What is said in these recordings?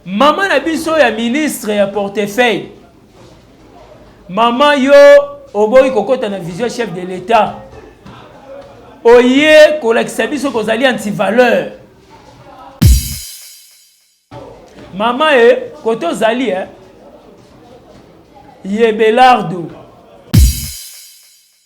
Maman na biso ya ministre ya portefeuille. Maman yo oboyi kokota na vision chef de l'etat. Oye kolakisa biso kozali anti valeur. Maman e eh, koto zali eh. Yebelardo.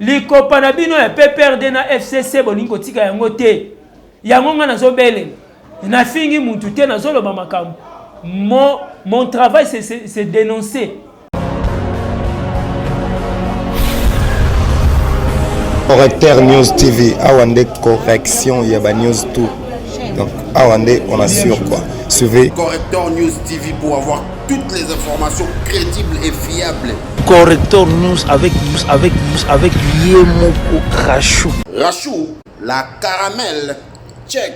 Likopa na bino ya PPRD na FCC bolingi kotika yango te. Yango nga nazobelela. Nafingi mutu te nazoloba makambo. Mon, mon travail c'est dénoncer. Correcteur News TV, awa nde correction ya ba news tout. Donc awa nde on assure quoi. Suivez Correcteur News TV pour avoir toutes les informations crédibles et fiables. Corrector News avec News avec News avec Yemoko Rachou. Rachou, la caramel, check.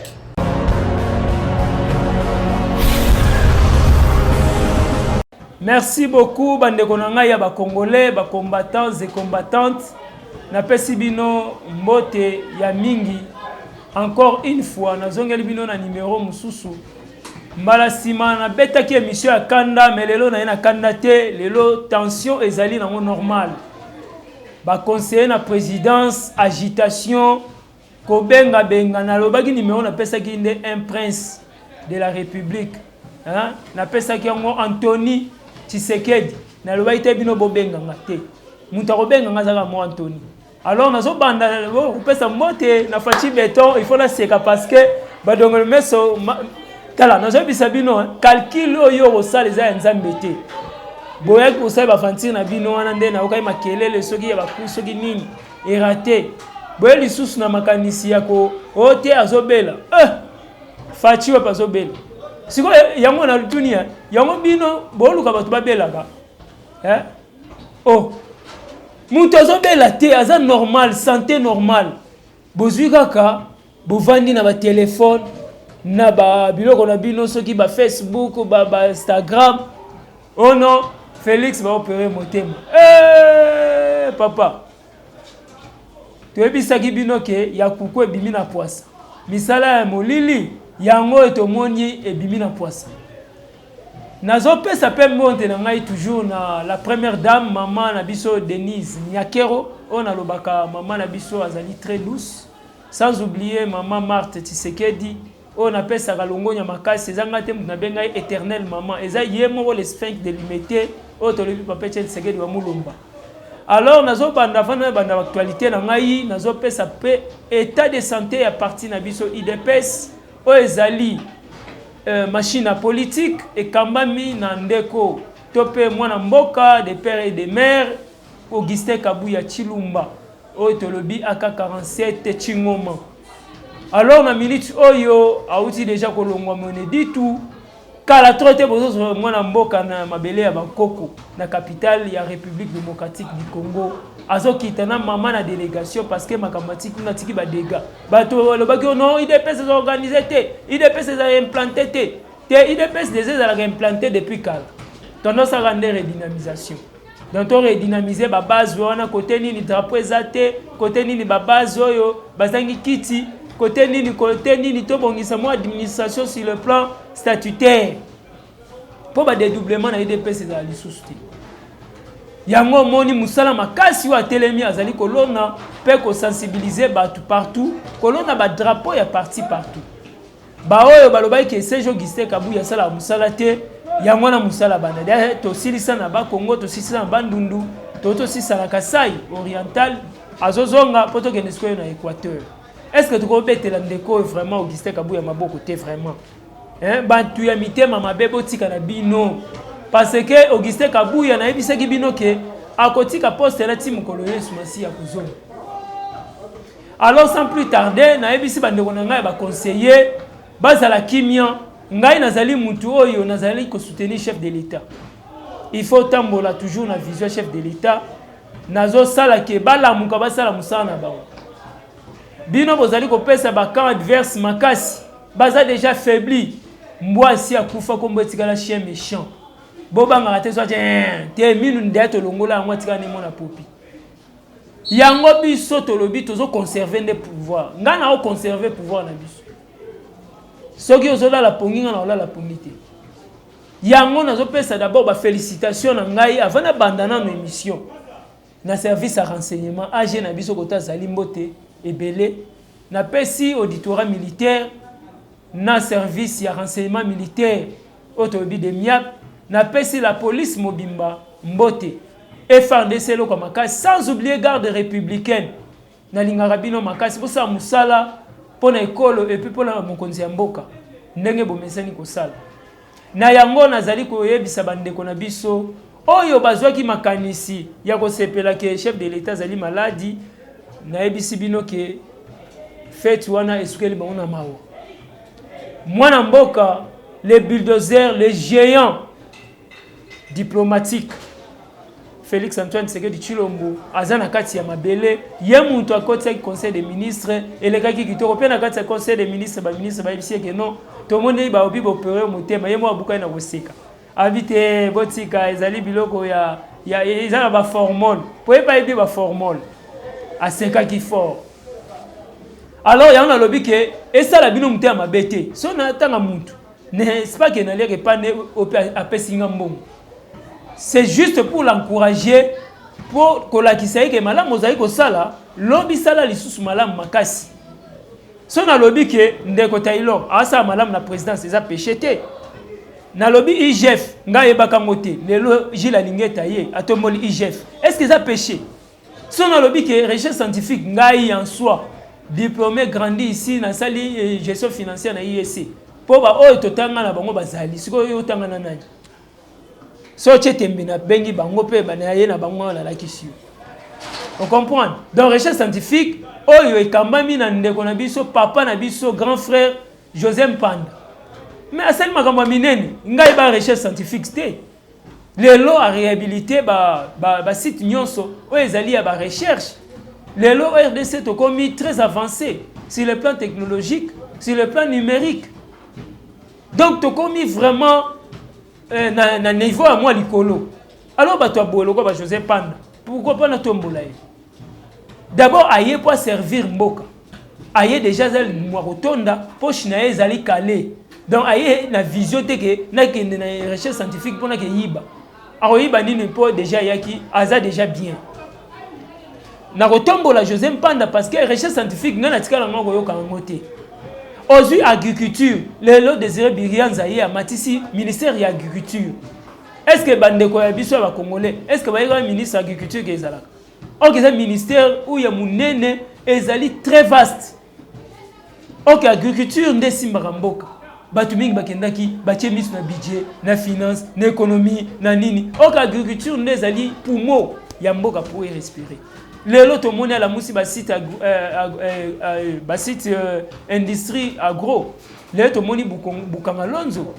Merci beaucoup bandeko na ngai ya ba congolais, ba combattants et combattantes. Napesi bino mbote ya mingi. Encore une fois nazongeli bino na numéro mususu Mbala sima na betaki emission ya kanda mais lelo na ye na kanda te lelo tension ezali nango normal ba conseiller na présidence agitation kobenga benga nalobaki numero napesaki nde un prince de la république hein? napesaki yango antony tshisekedi nalobaki te bino bobenga nga te moto akobenga nga azaka mo antony Alors nazo banda oh, kopesa mbote na Fatshi Beton, il faut la seka parce que badongolo meso tala nazo bisa bino hein. calcul oyo osala eza ya Nzambe te. Boyaki kosala ba fantir na bino wana nde na okai makelele soki ya baku soki nini erate. Boye lisusu na makanisi ya ko ote oh, azobela. Eh! Fatshi wapi azobela? Sikoyo yango na lutuni hein. yango bino boluka bato babelaka eh? oh mutu azobela te aza normal sante normal bozwi kaka bovandi na batelefone na babiloko na bino soki bafacebook bainstagram ba oh non félix baopere motema hey, eh, papa toyebisaki bino ke ya kuku ebimi na pwasa misala ya molili yango oyo tomoni ebimi na pwasa Nazo pesa pe mbonte na ngai toujours na la première dame maman na biso Denise Nyakero oyo nalobaka maman na biso azali très douce sans oublier maman Marthe Tshisekedi oyo napesaka longonya makasi eza ngai te moto nabenga ye éternel maman eza ye moko le sphinx de l'humete oyo tolobi papa Etienne Tshisekedi wa Mulumba alors nazobanda avant nabanda actualité na ngai nazopesa pe état de santé ya parti na biso idps Oyo ezali euh, machine ya politique ekambami na ndeko to mpe mwana mboka de père et de mère Augustin Kabuya Chilumba oyo tolobi aka 47 Chingoma. Alors na minute oyo awuti deja kolongwa Moneditu Kala trop te bozozwa mwana mboka na mabele ya bankoko na capitale ya République démocratique du Congo azokita na mama na délégation parce que makambo atiki kuna atiki badega bato balobaki oh non idps eza organise te idps eza implante te te idps deja ezalaka implante depuis kala tondosaka nde redynamisation donc to redynamiser ba base wana kote nini drapeau eza te kote nini ba base oyo bazangi kiti kote nini kote nini tobongisa mwa administration sur le plan statutaire mpo badedoublement na edps ezala lisusu te yango omoni mosala makasi oyo atelemi azali kolona mpe kosensibilize bato partout kolona badrapeau ya parti partout Baoyo balobaki ke CG Augustin Kabuya asalaka mosala te, yango wana mosala banda dia tosilisa na ba Congo, tosilisa na Bandundu, to tosisa na Kasai oriental, azozonga mpo tokende sikoyo na Equateur. Est-ce que tokobetela ndeko oyo vraiment Augustin Kabuya maboko te vraiment? Hein, bato ya mitema mabe botika na bino parce que Augustin Kabuya nayebisaki bino ke akotika poste na ti mokolo Yesu Masiya kozonga. Alors sans plus tarder, nayebisi bandeko na ngai ya baconseiller bazala kimia. Ngai nazali mutu oyo nazali ko soutenir chef de l'État. Il faut tambola toujours na vision chef de l'État. Nazo sala ke balamuka basala musala na bango. Bino bozali kopesa ba camp adverse makasi. Baza déjà faibli. Mbwa si akufa kombo etikala chien méchant. Bobangaka te soit te minu ndia tolongola yango atikala nemo na popi. Yango biso tolobi tozo conserver nde pouvoir. Nga na o conserver pouvoir na biso. Soki ozo lala pongi nga na olala pongi te. Yango nazo pesa d'abord ba félicitations na ngai avant na banda na émission. Na service à renseignement AG na biso kota zali mbote ebele. Na pesi auditorat militaire na service ya renseignement militaire Oyo tolobi de miap na pesi la police mobimba mbote FARDC eloko ya makasi sans oublier garde republicaine na lingaka bino makasi bosala musala pona ekolo epuis pona mokonzi ya mboka ndenge bomesani kosala na yango nazali koyebisa ba ndeko na biso oyo bazwaki makanisi ya kosepela ke chef de l'etat azali maladi nayebisi bino ke feti wana esukeli bango na mawa. Mwana mboka le bulldozer le geant diplomatique Felix Antoine Tshisekedi Tshilombo aza na kati ya mabele ye mutu akotisaki conseil des ministres elekaki kitoko mpe na kati ya conseil des ministres ba ministre bayebisi eke non tomoni baobi bopere motema ye moko abukani na koseka abi te eh, botika ezali biloko ya, ya eza na baformole mpo ye bayebi baformole asekaki fort Alors yango nalobi ke esala bino moto ya mabe te so natanga mutu n'est-ce pas que naliaka epa nde apesi nga mbongo c'est juste pour l'encourager mpo kolakisa ye ke malamu ozali kosala lobi sala lisusu malamu makasi so nalobi ke ndeko taylor asala malamu na présidence eza péché te nalobi igf ngai ayebaka yango te lelo gile alingeta ye atomboli igf est ce que eza péché Soki nalobi ke recherche scientifique ngai en soi diplome grandi ici nasali eh, gestion financière na IEC mpo baoyo totanga na bango bazali sikoyo yo otanga na nani so otye tembe nabengi bango mpe banaye na bango nalakisi yo ocomprendre donc recherche scientifique oyo ekambami na ndeko na biso papa na biso grand frère josé mpanda mais asali makambo ya minene ngai ba recherche scientifique te Lelo a rehabiliter ba, ba, ba site nyonso oyo ezali ya ba recherche. Lelo RDC tokomi très avancé sur le plan technologique, sur le plan numérique. Donc tokomi vraiment euh, na, na niveau ya mwa likolo. Alors bato ya boye lokola ba Joseph Panda, pourquoi pas natombola ye? D'abord aye po servir mboka. Aye deja aza mwa kotonda poche na ye ezali kale. Donc aye na vision te ke nakende na recherche scientifique mpo nakeyiba. Akoyiba nini mpo deja ayaki aza deja bien. Nakotombola Jose Mpanda parce que recherche scientifique ngai natikala ngai koyoka yango te. Ozui agriculture lelo Desire Birianza ye amatisi ministère ya agriculture. Est-ce que bandeko ya biso ya ba Congolais est-ce que bayekaka ministre ya agriculture ke ezalaka? Ok, c'est un ministère où il y a Mounene et Ezali très vaste. Ok, agriculture nde simbaka mboka. Bato mingi bakendaki batie miso na budget, na finance, na économie, na nini. Ok, agriculture nde ezali poumon ya mboka pour y respirer. lelo tomoni alamusi basite euh, euh, euh, basite industrie agro lelo tomoni bukanga lonzo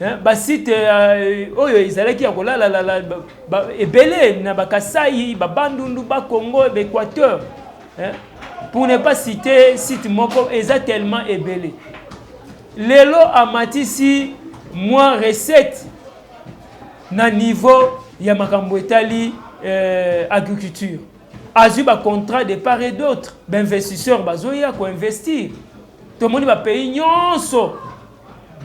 hein, ba site euh, oyo ezalaki ya kolala lala ba, ebele na bakasai babandundu bakongo baéquateur hein, pour ne pas citer site moko eza tellement ebele lelo amatisi mwa recette na niveau ya makambo etali euh, agriculture azwi bacontrat de part et d'autre bainvestisseur bazoya koinvestir tomoni bapays nyonso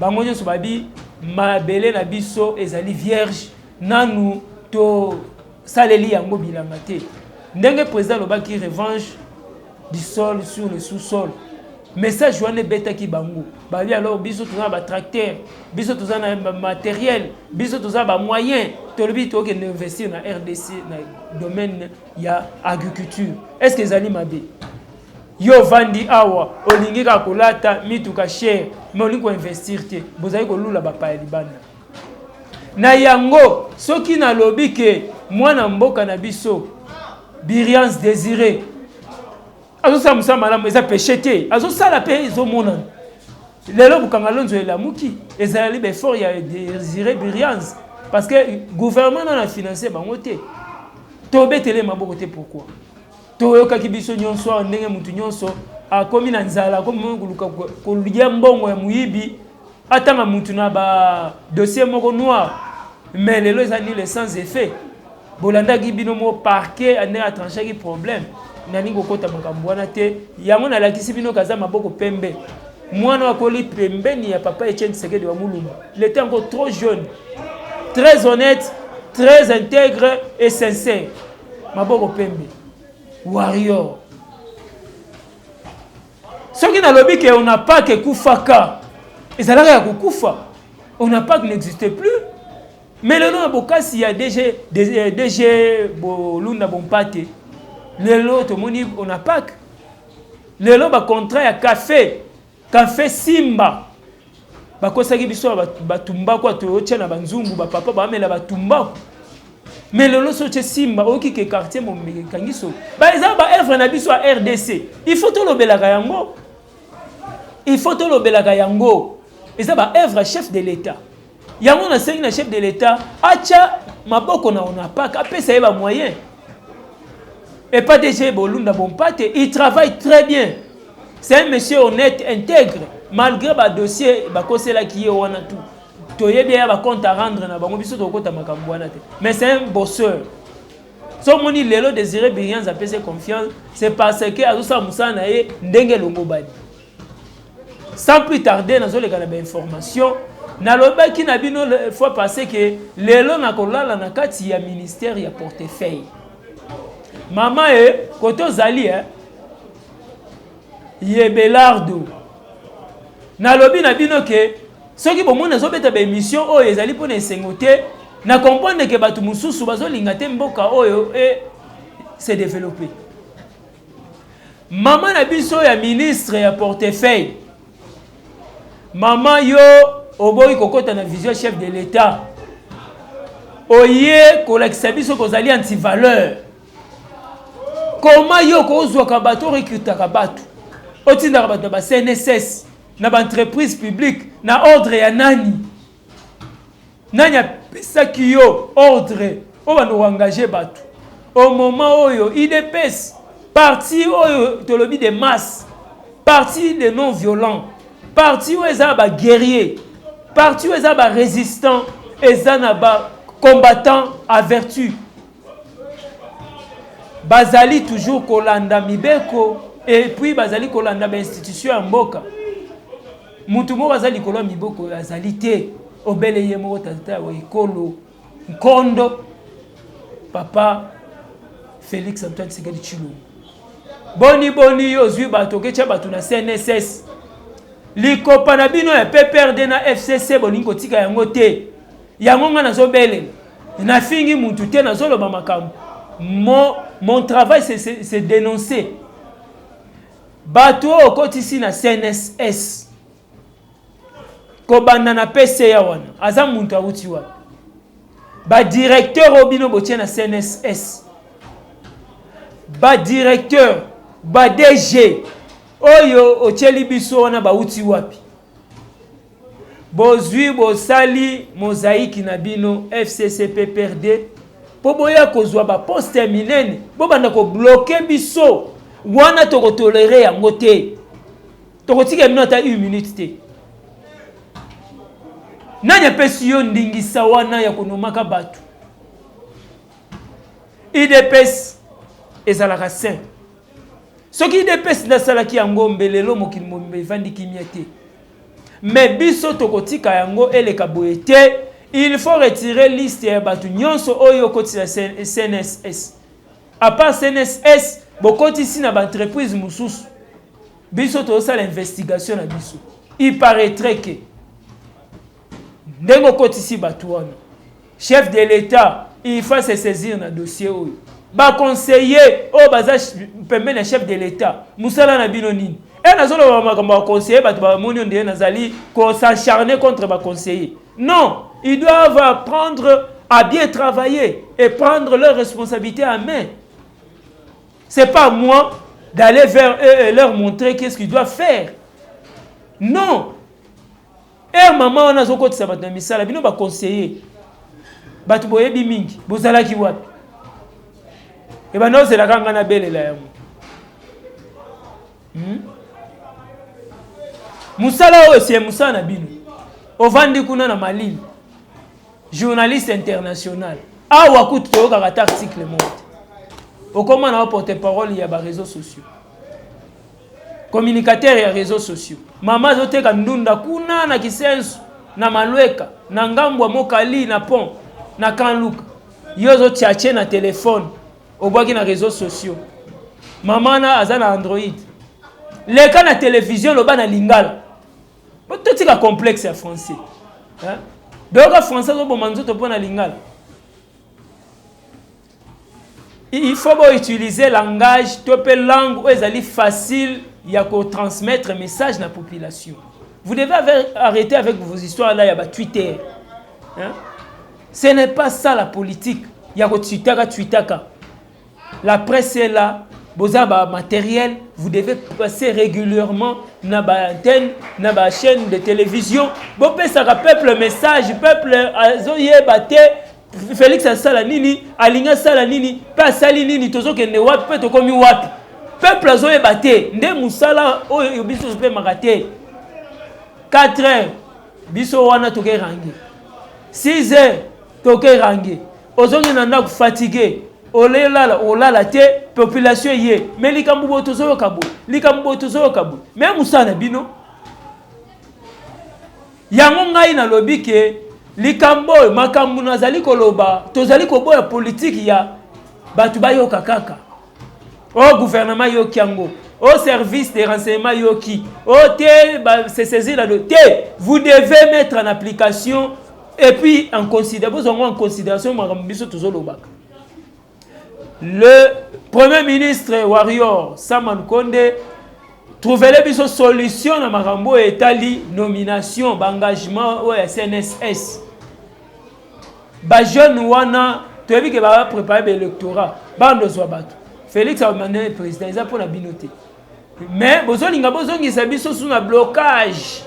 Bango nyonso babi mabele na biso ezali vierge nanu to saleli yango bilanga te ndenge président alobaki revanche du sol sur le sous-sol message wana ebetaki bango babi alors biso toza na batracteur biso toza na materiel biso toza bamoyen tolobi tokende investir na rdc na domaine ya agriculture est ce que ezali mabe Yo ovandi awa olingi kaka kolata mituka chere mais olingi ko investir te, bozali kolula bapaya libanda. Na yango soki nalobi ke mwana mboka na biso Birians Desire azosala mosala malamu eza peche te, azosala mpe ezomonana lelo bokanga lonzo elamuki ezalali baeffort ya Desire Birians parce que gouvernement nana financer bango te tobetele maboko te pourquoi Toyokaki biso nyonso awa ndenge moto nyonso akomi na nzala, akomi koluka kolia mbongo ya moyibi, atanga moto na ba dossier moko noir, mais lelo eza nul sans effet. Bolandaki bino moko parquet ande atranchaki problème, nalingi kokota makambo wana te. Yango nalakisi bino kaza maboko pembe mwana akoli pembeni ya papa Etienne Tshisekedi wa Mulumba. Il était encore trop jeune, très honnête, très intègre et sincère. Maboko pembe. Warrior. Soki nalobi que on n'a pas que kufaka. Ezalaka ya kukufa. On n'a pas que n'existe plus. Mais lelo na bokasi ya DG DG euh, Bolunda Bompate. Lelo tomoni on n'a pas que lelo ba contrat ya café Cafe Simba bakosaki biso na batumbaku ato otya na banzungu bapapa bamela batumbaku mais lelo so otye simba oyoki ke quartier momeke ekangi solo ba eza baevre na biso ya rdc il faut tolobelaka yango il faut tolobelaka yango eza baevre ya chef de l'etat Yango nasengi na chef de l'Etat atya maboko na ONAPAK apesa ye ba moyen epa DG Bolunda Bompate il travaille très bien c'est un monsieur honnête intègre malgré ba dossier bakoselaki ye wana tout toyebi ya bacompte à rendre na bango biso tokokota makambo wana te mais c'est un bosseur so omoni lelo désiré birians apesi confiance c'est parce que azosala mosala na ye ndenge elongobani Sans plus tarder, nazo leka na ba information. Nalobaki na bino le fois passé que lelo na kolala na kati ya ministère ya portefeuille. Maman e eh, koto zali eh Yebelardo. Nalobi na bino que soki bomoni nazo beta ba émission oyo ezali pona esengo te, na comprendre que bato mosusu bazo linga te mboka oyo e eh, se développer. Maman na biso ya ministre ya portefeuille. Maman yo oboyi kokota na vision chef de l'etat. Oye kolakisa biso kozali anti valeur. Comment yo kozwaka bato recrutaka bato. Otindaka bato na ba CNSS, na ba entreprise publique, na ordre ya nani? Nani apesaki yo ordre obanda ko engager batu au moment oyo udps parti oyo tolobi de masse parti de non violent parti oyo eza ba guerrier parti oyo eza ba resistant eza na ba combattant a vertu bazali toujours kolanda mibeko epuis bazali kolanda ba institution ya mboka Moto moko aza likolo ya miboko oyo azali te, obele ye moko tata ya ekolo nkondo papa Felix Antoine Tshisekedi Tshilombo. Boni boni yo ozwi bato oketya bato na CNSS likopa na bino ya PPRD na FCC bolingi kotika yango te, yango ngai nazobelela nafingi mutu te nazoloba makambo mon, mon travail c'est dénoncer Bato oyo okotisi na CNSS kobanda na PCA wana aza muntu awuti wapi? Ba directeur oyo bino botie na CNSS, ba directeur, ba DG oyo otieli biso wana bawuti wapi? Bozui bosali mozaiki na bino FCCPPRD po boya kozua ba poste ya minene bobanda ko bloquer biso wana toko tolerer yango te toko tikela bino ata une minute te. Nani apesi yo ndingisa wana ya konomaka batu? Udps ezalaka saint. soki idps nde asalaki yango mbe lelo mokili mobimba evandi kimia te me biso tokotika yango eleka boye te il faut retire liste ya bato nyonso oyo okotisa cnss apart cnss bokotisi na baentreprise mosusu biso tozosala investigation na biso il paraîtrait que ndenge okotisi bato wana chef de l'etat il faut se saisir na dossier oyo baconseiller oyo baza pembeni ya chef de l'etat mosala na bino nini e nazoloba makambo ya conseiller bato bamoni yo ndeye nazali kosacharne contre baconseiller non ils doivent apprendre à bien travailler et prendre leur responsabilité à main c'est pas moi d'aller vers eux et leur montrer qu'est-ce qu'ils doivent faire non Heure maman wana azokotisa bato na misala, bino ba conseiller bato boyebi mingi, bozalaki wapi? Ebanda ozelaka nga na belela yango hmm? Musala oyo ese musala na bino, ovandi kuna na Malili, journaliste international awa kutu toyokaka ata article moko te, okoma na porte parole ya ba réseaux sociaux communicateur ya réseaux sociaux mama azoteka ndunda kuna na kisensu na malweka na ngambo ya mokali na pont na kanluka yo ozotiatie na telefone obwaki na réseaux sociaux mama na aza na android leka na televizio loba na lingala totika complexe ya français doyoka français azoboma nzoto mpo na lingala Il faut bo utiliser langage to pe langue oyo ezali facile ya ko transmettre message na population. Vous devez arrêter avec vos histoires là ya ba Twitter. Hein? Ce n'est pas ça la politique. Ya ko twitaka twitaka. La presse est là, boza ba matériel, vous devez passer régulièrement na ba antenne, na ba chaîne de télévision. Bo pesaka peuple message, peuple azo yeba te Felix asala nini alingi asala nini mpe asali nini tozokende wapi mpe tokomi wapi peuple azoyeba te nde mosala oyo biso topemaka te 4 heures biso wana tokerange 6 heures tokerange ozongi na ndako fatigue olelala olala te population eye me likambo boye tozoyoka boye likambo boye tozoyoka boye me mosala na bino Yango ngai nalobi ke likambo oyo makambo nazali koloba tozali koboya politiki ya bato bayoka kaka o oh, guvernema yoki yango o oh, service de renseignement yoki o oh, te se saisir la te vous devez mettre en application et puis en considère bozwa yango en considération makambo biso tozolobaka Le Premier ministre Warrior Saman Konde trouvele biso solution na makambo oyo etali nomination baengagement oyo ya CNSS bajeune wana toyebi ke baprépare baélectorat bando ozwa bato Félix amane président eza mpo na bino te mais bozolinga bozongisa biso su na blocage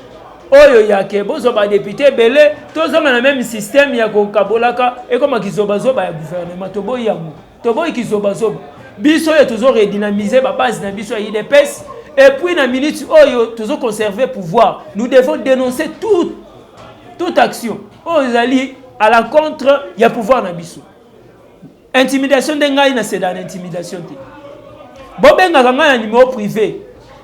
oyo yake bozwa badepute ebele tozonga na meme systeme ya kokabolaka ekoma kizobazoba ya gouvernement toboyi yango toboyi kizobazoba biso oyo tozo redynamiser babase na biso ya idps epuis na minute oyo tozo conserver pouvoir nous devons dénoncer tout, toute action oyo ezali à la contre ya pouvoir na biso intimidation nde ngai naseda na intimidation te bobengaka ngai na nimero privé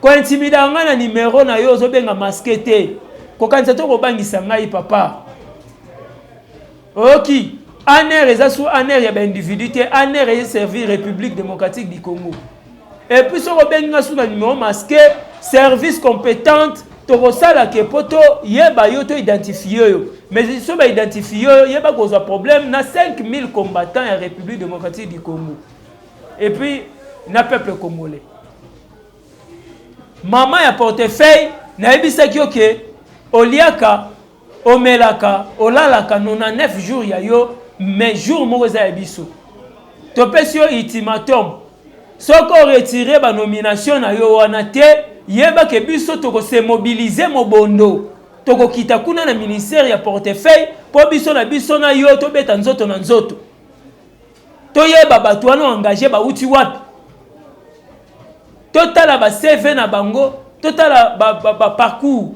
kointimidaka ngai na nimero na yo ozobenga maske te kokanisa to kobangisa ngai papa oyoki aner eza su aner ya baindividu te aner eservir république démocratique du congo Et puis soki obengi nga sous na numéro masqué, service compétente tokosala ke po to yeba yo to identifier yo. Mais soki ba identifier yo, yeba kozwa problème na 5000 combattants ya République démocratique du Congo. Et puis na peuple congolais. Maman ya portefeuille nayebisaki yo ke oliaka Omelaka, olalaka 99 jours ya yo mais jour moko eza ya biso. Topesi yo ultimatum. Soki o retirer ba nomination na yo wana te, yeba ke biso toko se mobiliser mobondo. Toko kita kuna na ministère ya portefeuille po biso na biso na yo tobeta nzoto na nzoto. Toyeba bato wana o engager bawuti wapi. Totala ba CV na bango, totala ba parcours.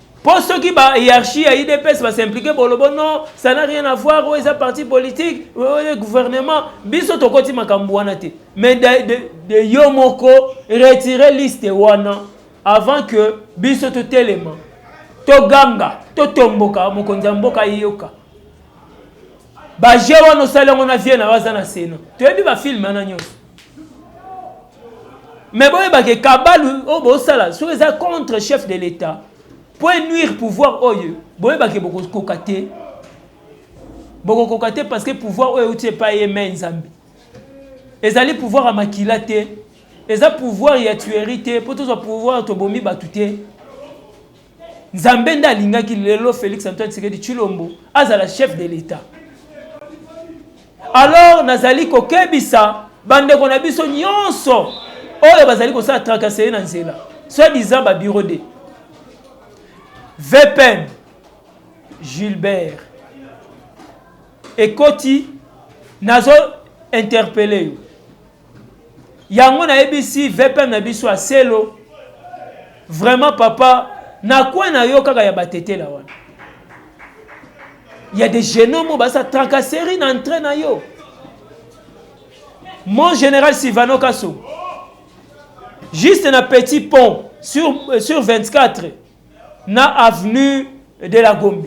Po soki ba hiérarchie ya IDPS ba s'impliquer bolobo non, ça n'a rien à voir, oyo eza parti politique, oyo gouvernement, biso tokoti makambo wana te. Mais de, de, de yo moko retirer liste wana avant que biso totelema toganga totomboka mokonzi ya mboka ayoka baje wana osali yango na vie na yo aza na sena toyebi bafilme wana nyonso mais boyeba ke kabale oyo bosala soki eza contre chef de l'etat po enuire pouvoir oyo boyeba ke bokokoka te bokokoka te parce que pouvoir oyo euti epai ye mai nzambe ezali pouvoir ya makila te eza pouvoir ya tuerie te mpo tozwa pouvoir tobomi bato te Nzambe nde alingaki lelo Felix Antoine Tshisekedi Tshilombo azala chef de l'Etat. Alors nazali kokebisa bandeko na biso nyonso oyo bazali kosala tracasserie na nzela soit disant ba bureau de VPN Gilbert ekoti nazo interpelle yo yango nayebisi vpm na biso ya selo vraiment papa na coin na yo kaka ya batetela wana ya des genomo basa tracasserie na entrain na yo mon général silvano kaso juste na petit pont sur, euh, sur 24 na avenue de la Gombe.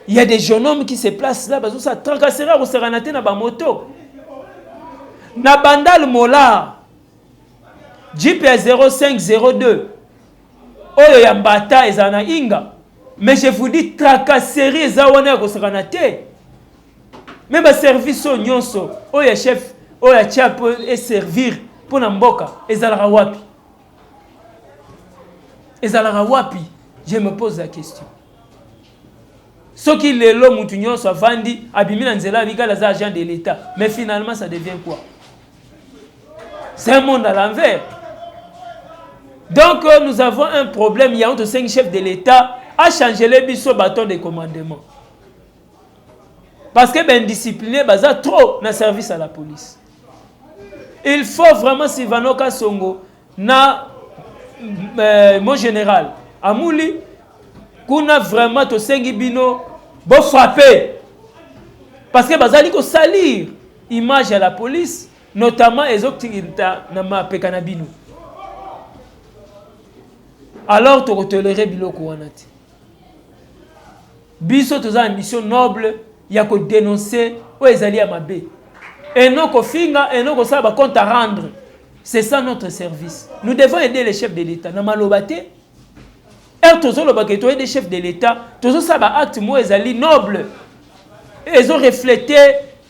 Il y a des jeunes hommes qui se placent là, bazo sa tracasser ko sakana te na ba moto. Na bandal mola. Jeep ya 0502 oyo ya mbata eza na inga. Mais je vous dis tracasserie eza wana ya ko sakana te. Mais ba service oyo nyonso oyo ya chef oyo ya chef et servir pona mboka ezalaka wapi? ezalaka wapi je me pose la question soki lelo mutu nyonso avandi abimi na nzela abikali aza agent de l'état mais finalement ça devient quoi c'est un monde à l'envers donc euh, nous avons un problème yango tosengi chef de l'état achangele biso baton de commandement parce que baindiscipline baza trop na service à la police il faut vraiment sylvano kasongo na euh, mon général amuli kuna vraiment tosengi bino bofrappe parce que bazali kosalir image ya la police notamment ezotinda na mapeka na bino alors tokotolere biloko wana te biso toza na mission noble ya ko denoncer oyo ezali ya mabe et non kofinga et non kosala ba compte à rendre c'est ça notre service nous devons aider les chefs de l'état na maloba te heure tozoloba ke toyede chef de l'état tozosala ba acte moko ezali noble ezo reflete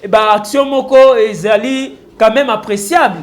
ba action moko ezali quand même appréciable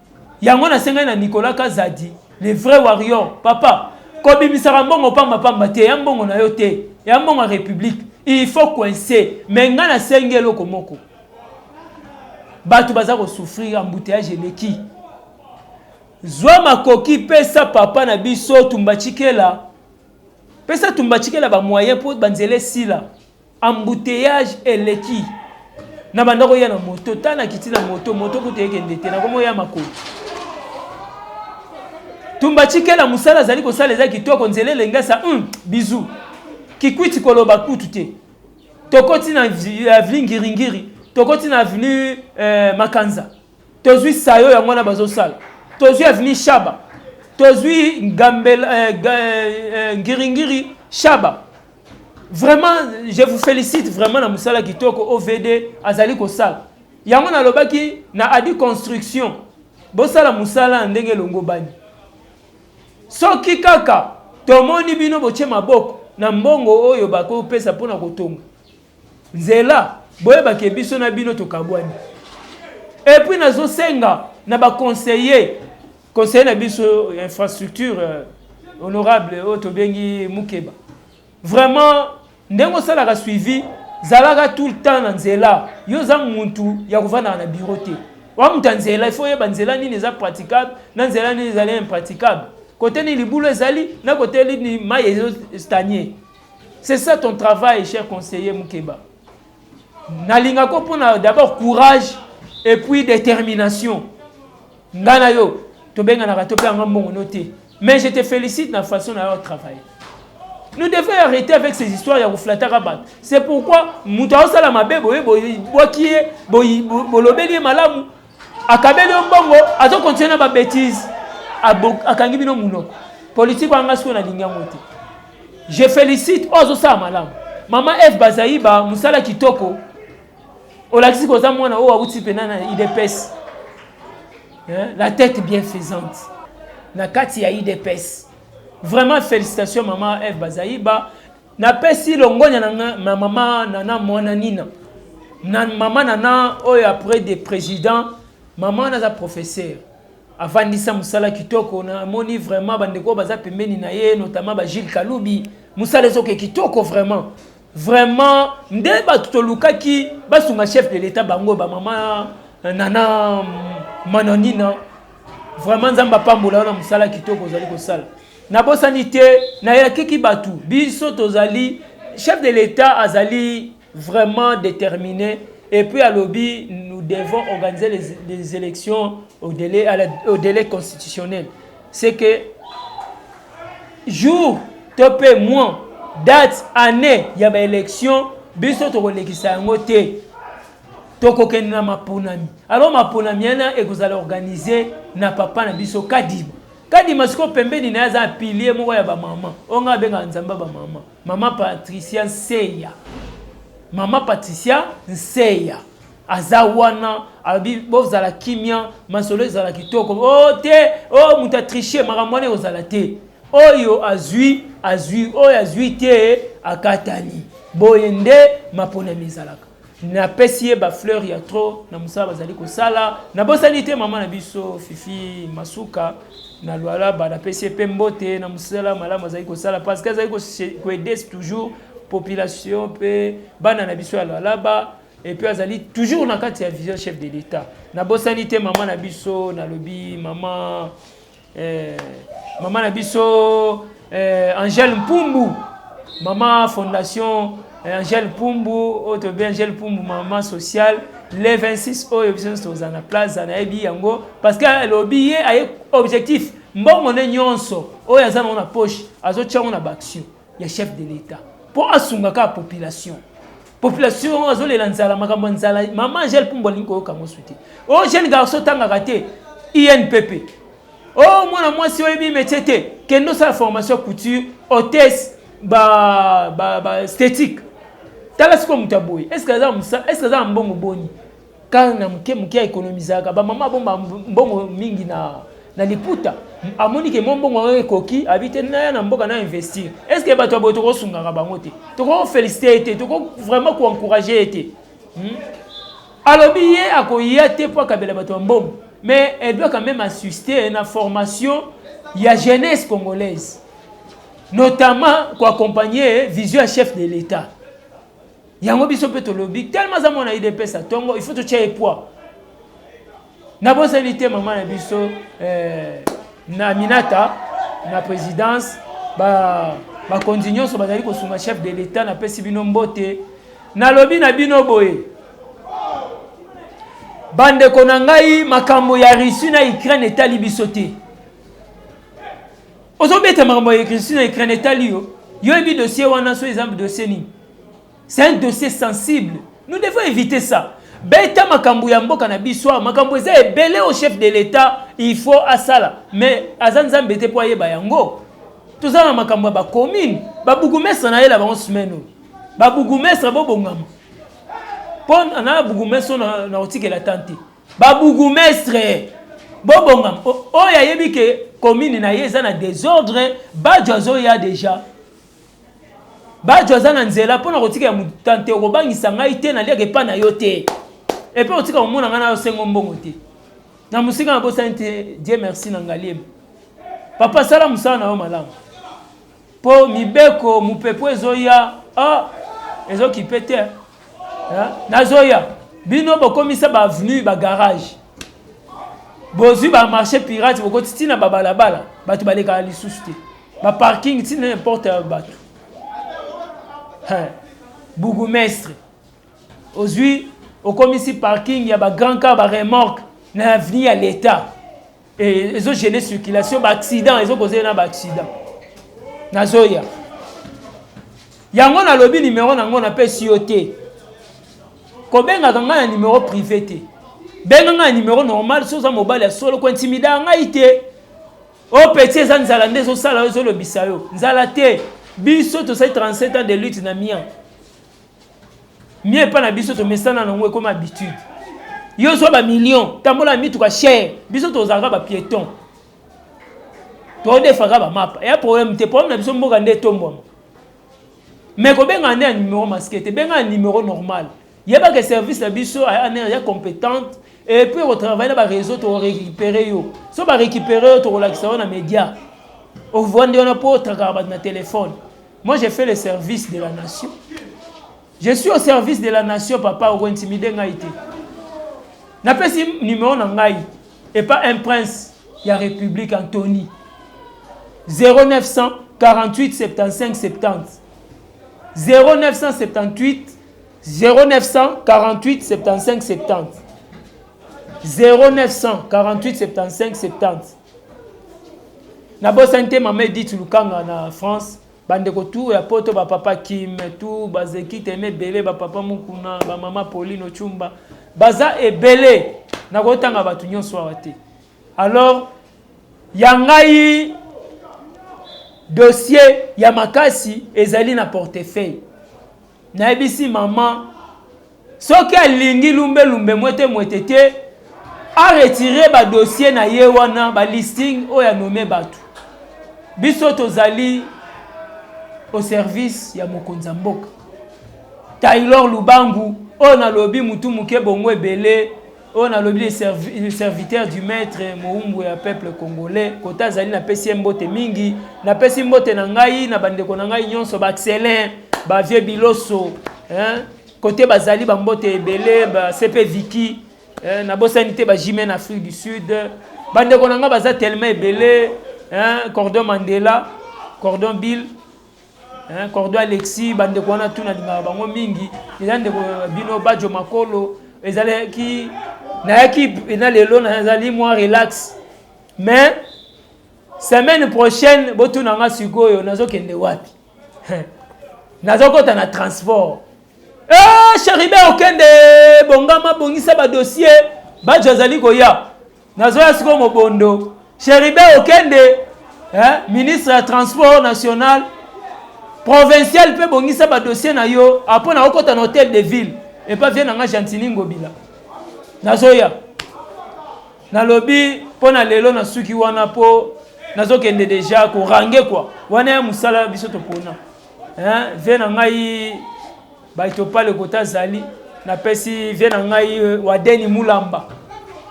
Yango nasengaki na Nicolas Kazadi, le vrai warrior, papa, kobimisaka mbongo pamba pamba te, eya mbongo na yo te, eya mbongo ya republique, il faut coincer, mais ngai nasengi eloko moko, batu baza ko souffrir, embouteillage eleki, zwa makoki pesa papa na biso Tumbatshikela, pesa Tumbatshikela ba moyens po ba nzela esila. Embouteillage eleki na banda koya na moto ta na kiti na moto moto kutu ekende te na komo ya makolo tumba chikela mosala azali kosala eza kitoko nzela elengesa um, hmm, bizu kikwiti koloba kutu te tokoti na avenue ngiringiri tokoti na avenue eh, makanza tozwi sayo yango wana bazosala tozwi avenue shaba tozwi ngambela eh, eh, eh, ngiringiri shaba Vraiment, je vous félicite vraiment na musala kitoko OVD azali kosala. Yango nalobaki na Adi Construction bosala musala ndenge elongobani. Soki kaka tomoni bino botie maboko na mbongo oyo bakopesa mpona kotonga Nzela boyeba ke biso na bino tokabwani. Et puis nazo senga na ba conseiller conseiller na biso infrastructure euh, honorable oyo oh, tobengi Mukeba. Vraiment ndenge osalaka suivi zalaka tout le temps na nzela yo oza muntu ya kovandaka na bureau te oa moto ya nzela ifo oyeba nzela nini eza praticable na nzela nini ezali impraticable kote nini libulu ezali na kote nini mai ezostanie C'est ça ton travail, cher conseiller Mukeba. Nalinga ko pona d'abord courage et puis détermination. Ngana yo, to benga na rato pe anga mbongo noté. Mais je te félicite na façon na yo travail. Nous devons arrêter avec ces histoires ya koflata rabat. C'est pourquoi mutu aosala mabe boye boye boye bolobeli malamu akabeli yo mbongo azo continue na ba bêtise akangi bino munoko politique anga sikoyo nalingi yango te je félicite oyo azosala malamu mama eve bazaiba mosala kitoko olakisi koza mwana oyo awuti mpena na idps la tête bien faisante na kati ya idps vraiment félicitation mama eve bazaiba Na pesi longonya na nga na mama nana muana nina na mama nana oyo après de president mama wana aza professeur avandisa musala kitoko na moni vraiment bandeko oyo baza pembeni na ye notamment ba Gilles Kalubi musala ezoke kitoko vraiment vraiment nde bato tolukaki basunga chef de l'etat bango ba mama nana mananina vraiment nzambe apambola yo na musala kitoko ozali kosala Nabosani te, nayakiki batu, biso tozali, chef de l'etat azali vraiment determine et puis alobi nous devons organiser les, les elections au délai, à la, au délai constitutionnel. C'est que jour to mpe mois date année ya baélection biso tokolekisa yango te tokokende na maponami alors maponami yana ekozala organise na papa na biso kadima Kadima siko pembeni na ye aza pilier moko ya ba mama oyo ngai abengaka nzambe ya ba mama mama Patricia Nseya mama Patricia Nseya aza wana alobi bozala kimia masolo ezala kitoko o oh, te o oh, moto atriche makambo wana ekozala te oyo azwi azwi oyo azwi te akatani boye nde maponami ezalaka napesi ye ba fleur ya trop na mosala bazali kosala nabosani te mama na biso fifi masuka na lualaba napesi ye mpe mbote na mosala malamu azali kosala parce que azali koaide toujours population mpe bana na biso ya lualaba epuis azali toujours na kati ya vision chef de l'état nabosani te mama na biso nalobi mama eh, mama na biso eh, angele mpumbu mama fondation eh, angele mpumbu oyo toyebi angele mpumbu mama sociale le 26 oyo biso nyonso tozala na plaza nayebi yango parce que alobi ye aye objectif mbongo nde nyonso oyo aza nango na poche azotya yango na baaction ya chef de l'etat mpo asunga kaka population population azolela nzala makambo ya nzala mama angele pumbu alingi koyoka yango su te o oh, jeune garçon otangaka te inpp o oh, mwana mwasi oyebi métier te kende osala formation couture hotesse ba, ba, ba esthétique tala sikoyo moto ya boye estce aza na mbongo boni Car na muke muke a economisaka ba mama abomba mbongo mingi na na liputa amoni ke mwa mbongo yango ekoki abi te naya na mboka na investir est ce que bato ya boye tokosungaka bango te tokofélicite ye te toko vraiment koencourage ye te hmm? alobi ye akoya te mpo akabela bato ya mbongo mais elle doit quand même assister na formation ya jeunesse congolaise notamment koaccompagne vision ya chef de l'état yango biso mpe tolobi telema aza mwana idps ya ntongo il faut totya ye poids nabosani te mama na biso eh, na minata na présidence bakonzi ba nyonso bazali kosunga chef de l'état napesi bino mbote nalobi na bino boye bandeko na ngai makambo ya russie na ukraine etali biso te ozobeta makambo ya russie na ukraine etali yo yo yebi dossier wana so eza dossier nini c'est un dossier sensible nous devons éviter ça beta makambo ya mboka na biso awa makambo eza ebele au chef de l'etat il faut asala mais aza nzambe te mpo ayeba yango toza na makambo ya bacommune babugumestre na ye na bango semaine oyo babugumestre bobongama mpo na bugumestre oyo na kotikela tan te babugumestre bobongama oyo ayebi ke commune na ye eza na desordre bajo azoya deja Bajo aza na nzela mpo na kotika ya mutante okobangisa ngai te naliaka epa na yo te epe otika komona ngai na yo sengo mbongo te na mosika nabosani te die merci na ngaliema papa sala mosala na yo malamu mpo mibeko mopepo ezoya ah, ezokipe te ah, nazoya bino bokomisa baavenue bagarage bozwi bamarché pirate bokoti ntina babalabala bato balekaka lisusu te Ba parking ti n'importe bato. Hein. Bourgmestre. Ozui okomisi parking ya ba grand car ba remorque na avenue ya l'État. Et ezo gêner circulation ba accident ezo causer na ba accident. Nazoya. Yango nalobi numéro nango na pesi yo te. Kobengaka ngai na numéro privé te. Benga ngai na numéro normal soza mobali ya solo ko intimida ngai te. Oh petit eza nzala nde ezo sala ezo lobisa yo. Nzala te. Biso to sai 37 ans de lutte na mien. Mien pa na biso to mesana na ngwe comme habitude. Yo zo ba million, tambola mitu ka cher. Biso to zaka ba piéton. To defaka ba map. Ya problème te problème na biso mboka nde tombwa. Mais ko benga nde numéro masqué te, benga numéro normal. Yeba que service na biso aya anere ya competente et puis okotravaille na ba réseau tokorécupere yo so barécupere yo tokolakisa yo na média ovandi wana mpo otrakaka bato na telefone moi j'ai fait le service de la nation je suis au service de la nation papa okointimide ngai te napesi numero na ngai epa un prince ya république antony 0900 48 75 70 0978 0948 75 70 nabosani te mama edith lukanga na france bandeko tu ya poto bapapa kim tu bazeki teme ebele bapapa mokuna bamama pauline ochumba baza ebele nakotanga bato nyonso awa te alors ya ngai dossier ya makasi ezali na portefeuille Nayebisi mama soki alingi lumbe lumbe mwete mwete te a retire ba dossier na ye wana ba listing oyo anome batu biso tozali au service ya mokonzi ya mboka taylor lubangu oyo nalobi mutu moke bongo ebele oyo nalobi le, servi, le serviteur du maître moumbu ya peuple congolais kota azali napesi ye mbote mingi napesi mbote na ngai na bandeko na ngai nyonso baexcellent bavieux biloso hein? kote bazali bambote ebele basepe viki hein? nabosani te bajime na afrique du sud bandeko na ngai baza tellement ebele hein? cordon mandela cordon bill Hein, Cordo Alexis, bande ko wana tuna lingaka bango mingi. Eza ndeko bino Bajo Makolo, ezalaki nayaki na lelo nazali mwa relax. Mais semaine prochaine botuna nga sikoyo nazokende wapi? nazokota na transport Eh, cheribe okende bongama bongisa badossier bajo azali koya nazoya sikoyo mobondo cheribe okende eh, ministre ya transport national provincial mpe bongisa badossier na yo apo na okota na hotel de ville epa vie na nga gentini ngobila nazoya nalobi mpo na lelo nasuki wana mpo nazokende deja korange kua wana ya mosala biso topona vie na ngai Baito pale kota azali na pesi vie na ngai euh, wadeni mulamba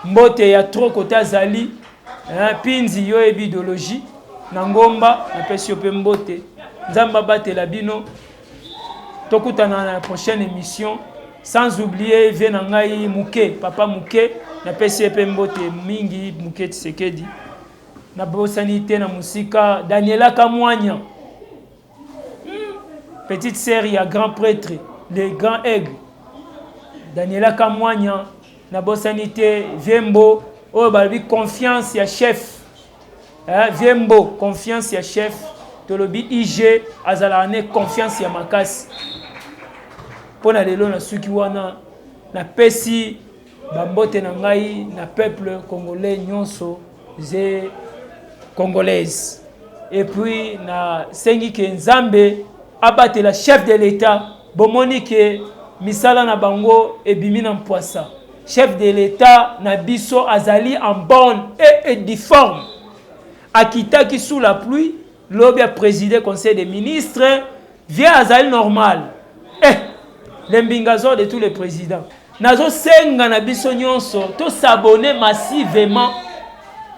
mbote ya trop kota azali hein, pinzi yo ebi idologie na ngomba na pesi yo pe mbote nzambe abatela bino tokutana na prochaine émission sans oublier vie na ngai muke papa muke na pesi ye pe mbote mingi muke tisekedi nabosani te na mosika daniela kamwanya petite sœur ya grand prêtre le grand aigle daniela kamwanya nabosani te viembo oyo balobi confiance ya chef eh, viembo confiance ya chef tolobi ig azalaka ne confiance ya makasi mpo na lelo nasuki wana napesi Ba mbote na ngai na peuple congolais nyonso ze congolaise et puis na sengi ke nzambe abatela chef de l'etat bomoni ke misala na bango ebimi na mpwasa chef de l'etat na biso azali en bonne et, et difforme akitaki sous la pluie Lobi a preside conseil de ministre vie azali normal eh le mbingazor de tous les presidents nazo senga na biso nyonso to s'abonner massivement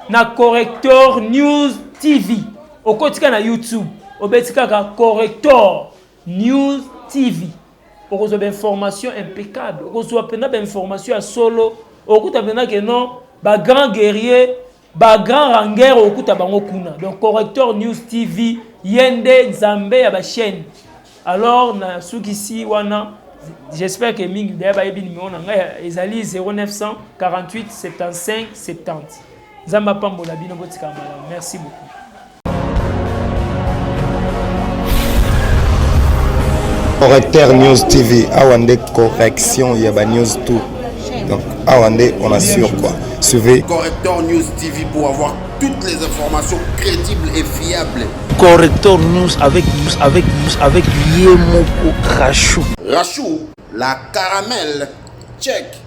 na corrector news tv okotika na youtube obeti kaka corrector news tv okozwa ba information impeccable okozwa mpenza ba information ya solo okuta mpenza ke non ba grand guerrier Ba grand rangeur okuta bango kuna donc correcteur news TV yende nzambe ya ba chaine alors na sukisi wana j'espère que mingi d'ailleurs bayebi numéro na ngai ezali 0948 75 70 nzambe apambola bino botika malamu merci beaucoup correcteur news tv awa nde correction ya banews tout donc awa nde on assure quoi suivez correcteur news tv pour avoir toutes les informations crédibles et fiables correcteur news avec news avec news avec ye moko rachou rachou la caramel check